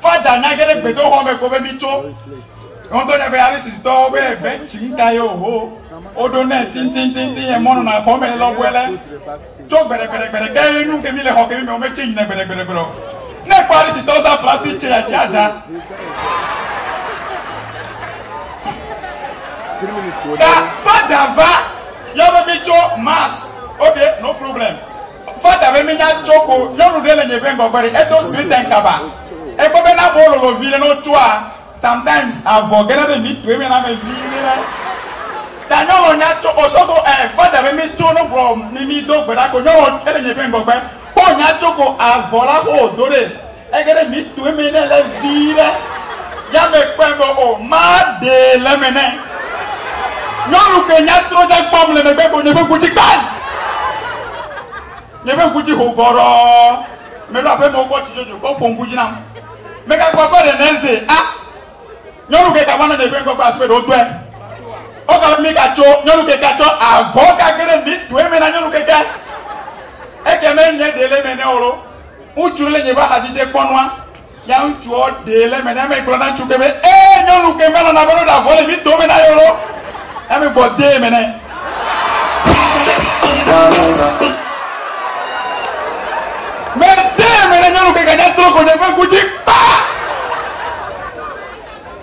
Fada na ge ɖe gbedoxɔ me ko be mi tso. Wotɔ ne be ale si tɔwo be egbe ŋtsi ŋta ye oho. Woɖo ne tintintintin ye mɔnu na xɔ me lɔ bɔe lɛ. Tso gbɛɖɛgbɛɖɛgbɛɖɛ ke ye nu ke mi le xɔ ke mi me wo me tse yina gbɛɖɛgbɛɖɛgbɛɖɛ o. Ne kpɔ ale si tɔwo za plastik tse ya tse adza. Da fada va yɔ be mi tso mas. Ok no problem. Fada be minya tso ko nyɔnu ɖe le nye ƒe ŋgɔgbe ɖe edo sliten kaba ekpɔ be na ƒo lolo viɖe no tsoa sometimes avɔ gena ɖe mi toe me na me viɖe na da nyɔnu nya tso osofo ɛ eh, fada be mi tso no gblɔ mi mi do gbe ɖa ko nyɔnu ele nye ƒe ŋgɔgbe ko nya tso ko avɔ la ko do ɖe Ege ɖe mi tɔe me ne le vi ɖe ya me kpɔe be o ma ɖe le me ne nyɔnu ke nya trɔ dza kpɔm le megbe ko nye be gudzi kpal nye be gudzi ho gɔrɔ me ɖo aƒe me wokɔ tsi tsotso kɔ ƒo gudzi nam me ka kpɔ fɔ de next day a nyɔnu ke ka va na nye be ŋkɔ kpɔ aspe ɖo tɔe o ka mi ka tso nyɔnu ke ka tso avɔ ka ke ɖe mi tɔe me na nyɔnu ke ke eke me nye ɖe le me ne o lo. Ŋutsu ɖe le nye ƒe axadzi dze kpɔ nua. Ya ŋutsuɔ ɖee le eme ne eme gblɔ na ŋutsu ke be, Ee, nyɔnu ke me lɔna be ɖo ɖa vɔ le mi dome na ye lo. Eme gbɔ dee eme nɛ. Me dee eme ne nyɔnu ke ganya trɔ ko ɖe ƒe ŋku dzi kpa.